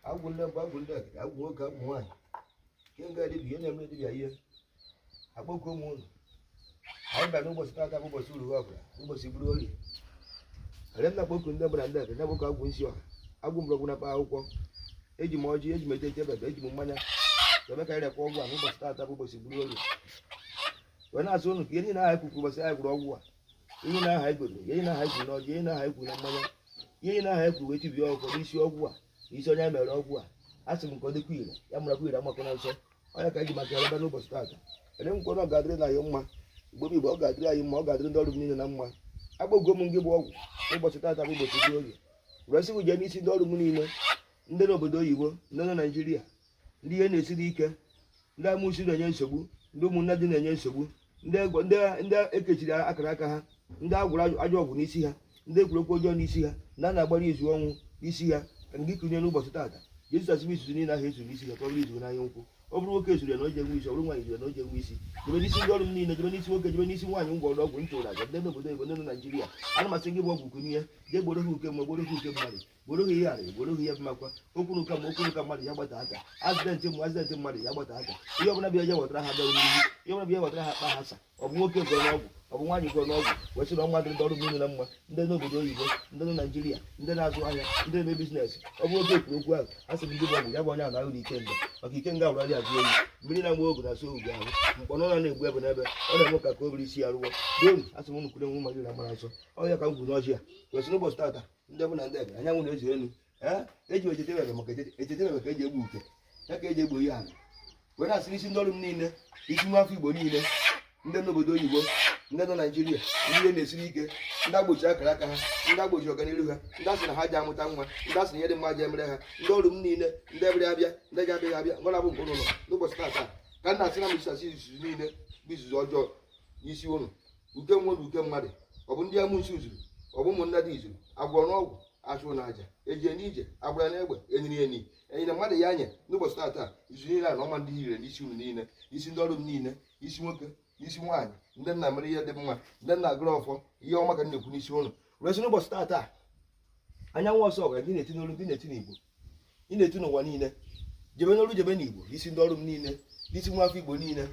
agwụ ndị mbụ agwụ ndị egede agwụ nwoke agwụ nwaanyị nke nga dibia ihe na-eme dibia ihe akpọkuo m unu anyị bịa n'ụbọchị taata bụ ụbọchị uru ọbụla ụbọchị buru orie were na-akpọku ndị mbụ na ndị egede na-akpọku agwụ nsị ọha agwụ mgbọrọgwụ na mkpa akwụkwọ eji m ọjị eji m eje eje bebe eji m mmanya ebe ka ịrekwa ọgwụ a n'ụbọchị taata bụ ụbọchị buru orie wee na-asị ụnụ ka ihe niile ahụ e kwuru ụbọchị anyị gwọrọ ọgwụ a ihe niile ahụ e gwere ihe niile ahụ e kwuru n'ọjị ihe niile ahụ e kwuru na mmanya ihe niile ahụ e kwuru wee tibie ọgwụ n'isi ọgwụ a n'isi onye anyị mere ọgwụ a asị m ka ọ dịkwa ire ya marakwa ire amakwana nsọ ọ ya ka anyị ji maka ya ebe n'ụbọchị taata ele nkwa na ọ ga-adịrị na anyị mma mgbe bụ mgbe ọ ga-adịrị anyị mma ọ ga-adịrị ndị ọrụ m niile na mma agwago m gị bụ ọgwụ ụbọchị taata bụ ụbọchị dị orie wee sị jee n'isi ndị ọrụ m niile ndị n'obodo oyibo ndị nọ naijiria ndị ihe na-esiri ike ndị amụsi na-enye nsogbu ndị ụmụnnadi na-enye nsogbu ndị e kechiri akara aka ha ndị a gwọrọ ajọ ọgwụ n'isi ha ndị e kwuru okwu ọjọọ n'isi ha ndị a na-agbara izu ọnwụ n'isi ha ka gị kunie n'ụbọchị taata jee zusasị bụ izuzu niile ahụ e zuru n'isi ha ka ọ bụrụ izuzu n'anya nkwụ ọ bụrụ nwoke zuru ya na o je enwe isi ọ bụrụ nwaanyị zuru ya na o je enwe isi jebe n'isi ndị ọrụ m niile jebe n'isi nwoke jebe n'isi nwaanyị m gwọọrọ ọgwụ m chụrụ aja ndị n'obodo oyibo ndị nọ Naịjirịa ana m asị gị bụ ọgwụ kunie jee gboro ha uke mmụọ gboro ha uke mmadụ gboro ha ihe arị gboro ha ihe mmakwa okwu na ụka mmụọ okwu na ụka mmadụ ya gbata aka accident mmụọ accident mmadụ ya gbata aka ihe ọbụla bịa je wetara ha bịa n'ihu ihe ọbụla bịa wetara ha kpa ha sa ọ bụ nwoke gwọrọ n'ọgwụ ọ bụ nwaanyị gwọrọ n'ọgwụ wee sị na ọ ga-adịrị ndị ọrụ m niile na mma ndị n'obodo oyibo ndị nọ naijiria ndị na-azụ ahịa ndị na-eme business ọ bụ oge e kwuru okwu ahụ asị m gị bụ ọgwụ ya bụ onye na ahụrụ ikenga maka ikenga wụrụ ajụ oyi mmiri na nwa ogu na-asụ ogu ahụ mkpọrọ na na-egbu ebe n'ebe ọ na-eme ka ka o bere isi ya rụwa donu asị m unu kwuru enwe mmadụ na mara nsọ ọ ya ka m kwuru n'ọjị a wee sị n'ụbọchị tata ndị mbụ na ndị egede anyanwụ na eze elu ee eji m echete ebe maka echete- echete ebe ka e ji egbo uke ya ka e ji egbo ihe ala were na-asị n'isi ndị ọrụ m niile isi nwa afọ igbo niile ndị nọ n'obodo oyibo ndị nọ naijiria ndị ihe na-esiri ike ndị e gbochi akara aka ha ndị e gbochi ọganihu ha ndị a sị na ha ji amụta nwa ndị a sị na ihe dị mma ji emere ha ndị ọrụ m niile ndị bịara abịa ndị ji abịaghị abịa ngwa na-abụ nke unu n'ụbọchị tata ka m na-asị na m etisasị izuzu niile bụ izuzu ọjọọ n'isi unu uke mmụọ uke mmadụ ọ bụ ndị amusu zuru ọ bụ ụmụnnadi zuru a gwọrọ n'ọgwụ a chụrụ n'aja e jere n'ije a gbara n'egbe e nyiri enyi e nyere mmadụ ya anya n'ụbọchị taata izu niile a na ọ ma adị ire n'isi unu niile isi ndị ọrụ m niile isi nwoke isi nwaanyị ndị m na-emere ihe dị mma ndị m na-agọrọ ọfọ ihe ọma ka m na-ekwu n'isi unu wee sị n'ụbọchị taata anyanwụ ọzọ ọgara ndị na-eti n'olu ndị na-eti n'igbo ị na-etu n'ụwa niile jebe n'oru jebe n'igbo isi ndị ọrụ m niile isi nwa afọ igbo niile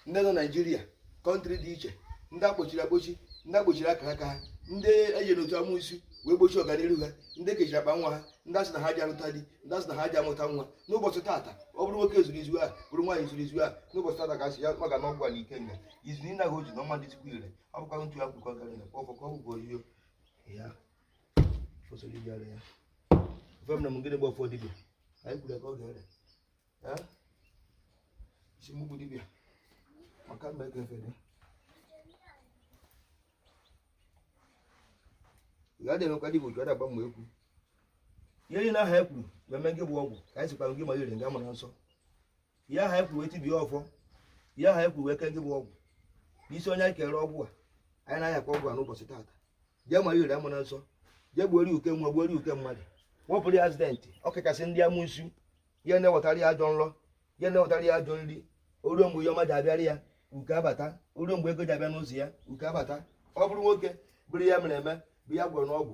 ndị nọ naijiria country dị iche ndị akpochiri akpochi ndị akpochiri akara aka ha ndị ejere otu amusu wee gbochie ọganihu ha ndị ekechiri akpa nwa ha ndị asị na ha ji alụta di ndị asị na ha ji amụta nwa n'ụbọchị tata ọ bụrụ nwoke zuru izu a ọ bụrụ nwaanyị zuru izu a n'ụbọchị tata ka asị ya maka na ọgwụ ala ike nga izu niile ahụ o ji na ọma dị tupu ire ọ bụkwa ntu ya kwukọ gara na kpọfọ ka ọ gwụgwọ ihe ya fosoro iji ara ya ofe m na m gịnị gba ọfọ dibịa anyị kwuru ya ka ọ ga-ere Eh? isi mgbugbu dibịa maka mma ego efere ị gaghị emekwa dibịa otu ọ na-agba mgbe ekwu ihe niile aha e kwuru mmemme gị bụ ọgwụ ka anyị sikwa gị ma ire nga mara nsọ ihe aha e kwuru wee tibie ọfọ ihe aha e kwuru wee kee gị bụ ọgwụ n'isi onye anyị kere ọgwụ a anyị na-ayọkwa ọgwụ a n'ụbọchị taata jee ma ire amara nsọ jee gbuoro ya uke nwa gbuoro ya uke mmadụ wepụrụ ya accident ọ kachasị ndị amusu ihe na-ewetara ya ajọ nrọ ihe na-ewetara ya ajọ nri o ruo mgbe ihe ọma ji abịara ya uke abata o ruo mgbe ego ji abịa n'ụzọ ya uke abata ọ bụrụ nwoke bụrụ ihe e mere eme bụ ihe a gwọrọ n'ọgwụ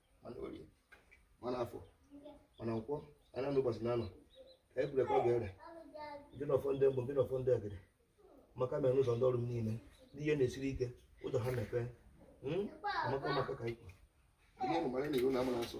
ma n'orie ma n'afọ ma na nkwọ anya na ụbọchị na anọ ka e kwuru ka ọ ga-ere gị na ọfọ ndị mbụ gị na ọfọ ndị egede maka mere n'ụzọ ndị ọrụ m niile ndị ihe na-esiri ike ụzọ ha mepee Hmm? amaka maka ka ikwu ihe ahụ mara na iwu na amara nsọ